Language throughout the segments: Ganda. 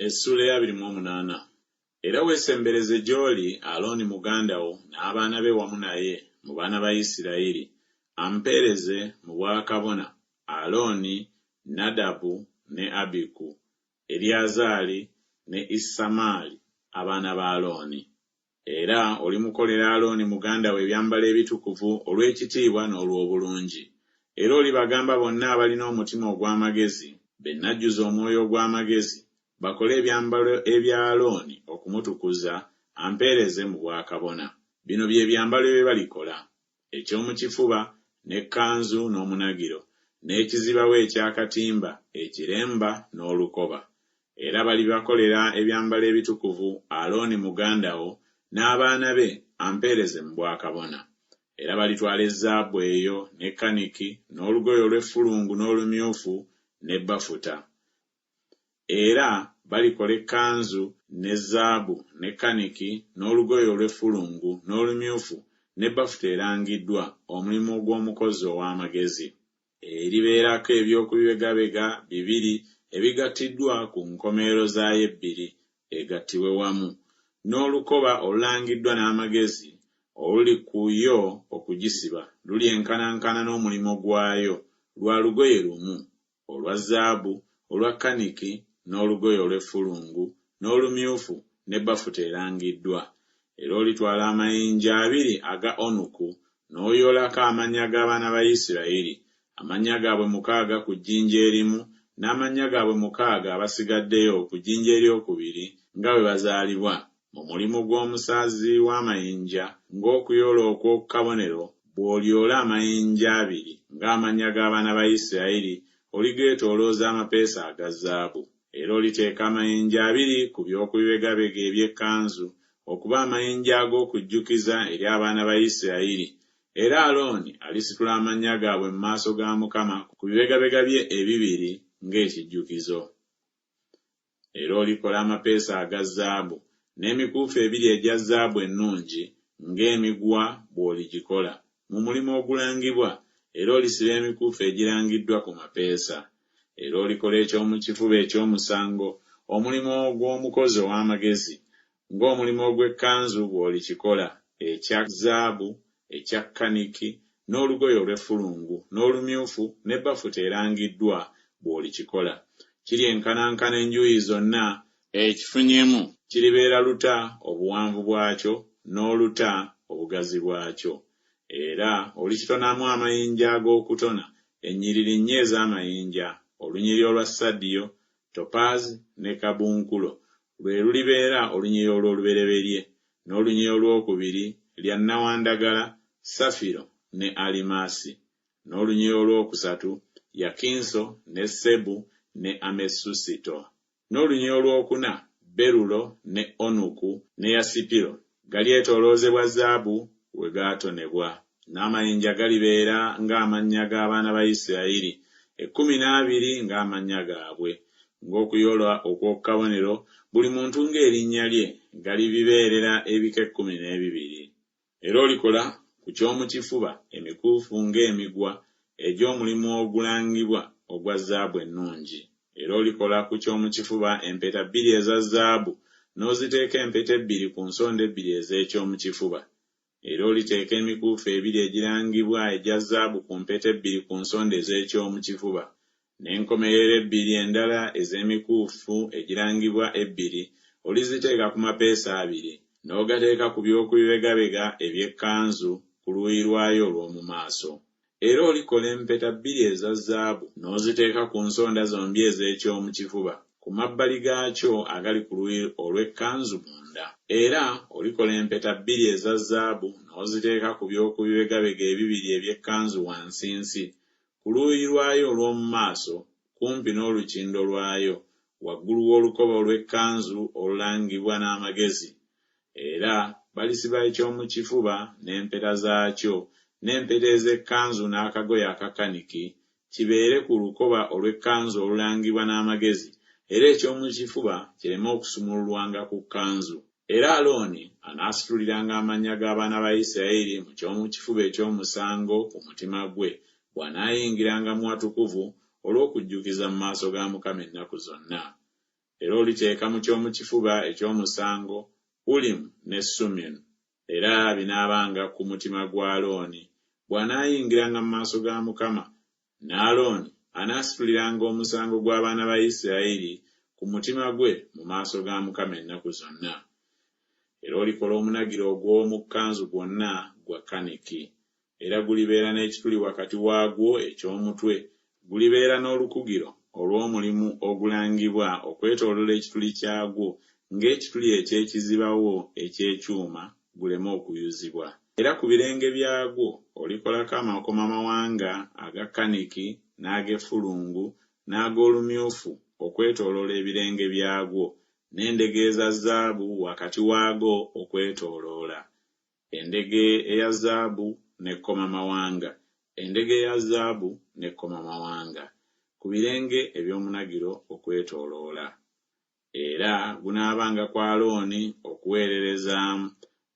Essuula ey'abiri mu omunaana. Era weesembereze gy'oli Alooni muganda wo n'abaana be wamu naye, mu baana ba Isiraeri, ampeereze mu bwakabona, Alooni, Nadabu, ne Abiku, Eriyazaali, ne Isamaali, abaana ba Alooni. Era olimukolera Alooni muganda wo ebyambalo ebitukuvu olw'ekitiibwa n'olw'obulungi. Era olibagamba bonna abalina omutima ogw'amagezi, be nnajjuza omwoyo ogw'amagezi, bakole ebyambalo ebya Alooni okumutukuza, ampeereze mu bwakabona. Bino bye byambalo bye balikola, eky'omu kifuba, n'ekkanzu n'omunagiro, n'ekizibawo eky'akatimba, ekiremba, n'olukoba. Era balibakolera ebyambalo ebitukuvu, Alooni muganda wo n'abaana be ampeereze mu bwakabona. Era balitwala ezzaabu eyo, ne kaniki, n'olugoye olw'effulungu n'olumyufu, ne bafuta. Era balikola ekkanzu, ne zaabu, ne kaniki, n'olugoye olw'effulungu, n'olumyufu, ne bafuta erangiddwa, omulimu ogw'omukozi ow'amagezi. Eribeerako eby'okubibegabega bibiri ebigattiddwa ku nkomerero zaayo ebbiri, egattibwe wamu, n'olukoba olulangiddwa n'amagezi oluli ku yo okugisiba, lulyenkanankana n'omulimu gwayo, lwa lugoye lumu, olwa zaabu, olwa kaniki, n'olugoye olw'effulungu, n'olumyufu, ne bafuta erangiddwa. Era olitwala amayinja abiri aga onuku, n'oyoolako amannya g'abaana ba Isirayiri, amannya gaabwe mukaaga ku jjinja erimu, n'amannya gaabwe mukaaga abasigaddeyo ku jjinja eryokubiri, nga bwe bazaalibwa. Mu mulimu gw'omusaazi w'amayinja, ng'okuyoola okw'oku kabonero, bw'olyoola amayinja abiri ng'amannya g'abaana ba Isirayiri, oligeetoolooza amapeesa aga zaabu. Era oliteeka amayinja abiri ku by'oku bibegabega eby'ekkanzu, okuba amayinja ag'okujjukiza eri abaana ba Isirayiri. Era Alooni alisitula amannya gaabwe mu maaso ga Mukama ku bibegabega bye ebibiri ng'ekijjukizo. Era olikola amapeesa aga zaabu, n'emikuufu ebiri egya zaabu ennungi ng'emiguwa bw'oligikola, mu mulimu ogulangibwa, era olisiba emikuufu egirangiddwa ku mapeesa. Era olikola eky'omu kifuba eky'omusango, omulimu ogw'omukozi ow'amagezi, ng'omulimu ogw'ekkanzu bw'olikikola, ekya zaabu, ekya kkaniki, n'olugoye olw'effulungu, n'olumyufu, ne bafuta erangiddwa, bw'olikikola. Kiryenkanankana enjuuyi zonna. Ekifunyemu kiribeera luta obuwanvu bwakyo, n'oluta obugazi bwakyo. Era olikitonamu amayinja ag'okutona, ennyiriri nnya ez'amayinja, olunyiriri olwa sadiyo, Topaazi ne kabunkulo lwe lulibeera olunyiriri olw'olubereberye, n'olunyiriri olw'okubiri lya nnawandagala, safiro, ne alimaasi, n'olunyiriri olw'okusatu yakinso, ne sebu, ne amesusito, n'olunyiriri olw'okuna berulo, ne onuku, ne yasipiro, Galyetooloozebwa zaabu we gaatonebwa, n'amayinja galibeera ng'amannya g'abaana ba Isirayiri ekkumi n'abiri ng'amannya gaabwe, ng'okuyoola okw'oku kabonero, buli muntu ng'erinnya lye, galibibeerera ebika ekkumi n'ebibiri. Era olikola ku ky'omu kifuba emikuufu ng'emiguwa egy'omulimu ogulangibwa ogwa zaabu ennungi, Era olikola ku ky'omu kifuba empeta bbiri eza zaabu, n'oziteeka empeta ebbiri ku nsonda ebbiri ez'eky'omu kifuba. Era oliteeka emikuufu ebiri egirangibwa egya zaabu ku mpeta ebbiri ku nsonda ez'eky'omu kifuba, n'enkomerero ebbiri endala ez'emikuufu egirangibwa ebbiri oliziteeka ku mapeesa abiri, n'ogateeka ku by'oku bibegabega eby'ekkanzu ku luuyi lwayo olw'omu maaso. Era olikola empeta bbiri eza zzaabu, n'oziteeka ku nsonda zombi ez'eky'omu kifuba, ku mabbali gaakyo agali ku luuyi olw'ekkanzu munda. Era olikola empeta bbiri eza zzaabu, n'oziteeka ku by'oku bibegabega ebibiri eby'ekkanzu wansinsi, ku luuyi lwayo olw'omu maaso, kumpi n'olukindo lwayo, waggulu w'olukoba olw'ekkanzu olulangibwa n'amagezi. Era balisiba eky'omu kifuba n'empeta zaakyo, n'empeta ez'ekkanzu n'akagoye aka kaniki, kibeere ku lukoba olw'ekkanzu olulangibwa n'amagezi, era eky'omu kifuba kireme okusumululwanga ku kkanzu. Era Alooni anaasituliranga amannya g'abaana ba Yisirayeli mu ky'omu kifuba eky'omusango ku mutima gwe, bw'anaayingiranga mu watukuvu olw'okujjukiza mu maaso ga Mukama ennaku zonna. Era oliteeka mu ky'omu kifuba eky'omusango Ulimu ne Sumimu, era binaabanga ku mutima gwa Alooni, bw'anaayingiranga mu maaso ga Mukama Ne Alooni anaasituliranga omusango gw'abaana ba Isirayiri ku mutima gwe mu maaso ga Mukama ennaku zonna. Era olikola omunagiro ogw'omu kkanzu gwonna gwa kaniki, era gulibeera n'ekituli wakati waagwo eky'omutwe, gulibeera n'olukugiro olw'omulimu ogulangibwa okwetooloola ekituli kyagwo, ng'ekituli eky'ekizibawo eky'ekyuma guleme okuyuzibwa, era ku birenge byagwo olikolako amakomamawanga aga kaniki, n'ag'effulungu, n'ag'olumyufu okwetooloola ebirenge byagwo, n'endege eza zaabu wakati waago okwetooloola. Endege eya zaabu n'ekkomamawanga, endege eya zaabu n'ekkomamawanga, ku birenge eby'omunagiro okwetooloola. era gunaabanga ku Alooni okuweererezaamu,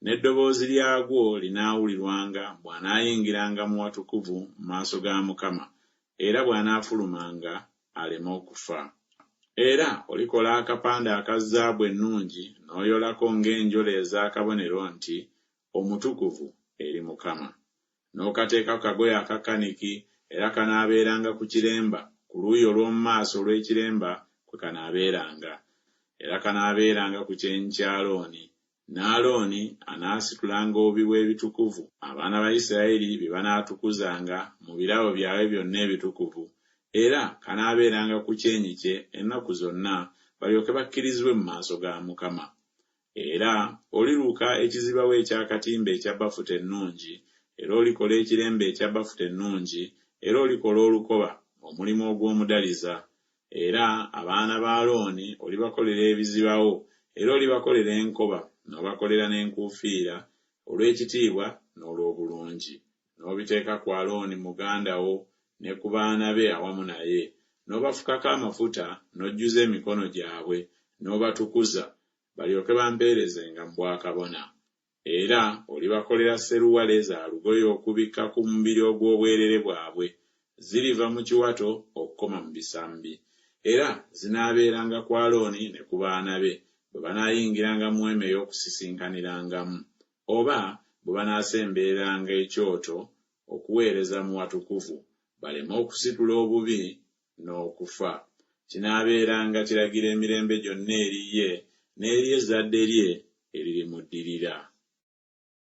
n'eddoboozi lyagwo linaawulirwanga bw'anaayingiranga mu watukuvu mu maaso ga Mukama, era bw'anaafulumanga aleme okufa. Era olikola akapande aka zaabu ennungi n'oyolako ng'enjola ez'akabonero nti, Omutukuvu eri Mukama. n'okateeka ku kagoye akakkaniki, era kanaabeeranga ku kiremba, ku luuyi olw'omu maaso olw'ekiremba kwe kanaabeeranga. Era kanaabeeranga ku kyenyi kya Alooni, ne Alooni anaasitulanga obubi bw'ebitukuvu abaana ba Isirayiri bye banaatukuzanga mu birabo byabwe byonna ebitukuvu, era kanaabeeranga ku kyenyi kye ennaku zonna, balyoke bakkirizibwe mu maaso ga Mukama. Era oliruka ekizibawo eky'akatimba ekya bafuta ennungi, era olikola ekiremba ekya bafuta ennungi, era olikola olukoba, omulimu ogw'omudaliza. Era abaana ba Alooni olibakolera ebizibawo, era olibakolera enkoba, n'obakolera n'enkuufiira, olw'ekitiibwa n'olw'obulungi. n'obiteeka ku Alooni muganda wo ne ku baana be awamu naye, n'obafukako amafuta, n'ojjuza emikono gyabwe, n'obatukuza, balyoke bampeerezenga mu bwakabona. Era olibakolera sseruwale za lugoye okubikka ku mubiri ogw'obwereere bwabwe, ziriva mu kiwato okukoma mu bisambi. Era zinaabeeranga ku Alooni ne ku baana be, bwe banaayingiranga mu Weema ey'Okusisinkanirangamu, oba bwe banaasembereranga ekyoto okuweereza mu watukuvu, baleme okusitula obubi n'okufa. Kinaabeeranga kiragiro emirembe gyonna eri ye n'eri ezzadde lye eririmuddirira.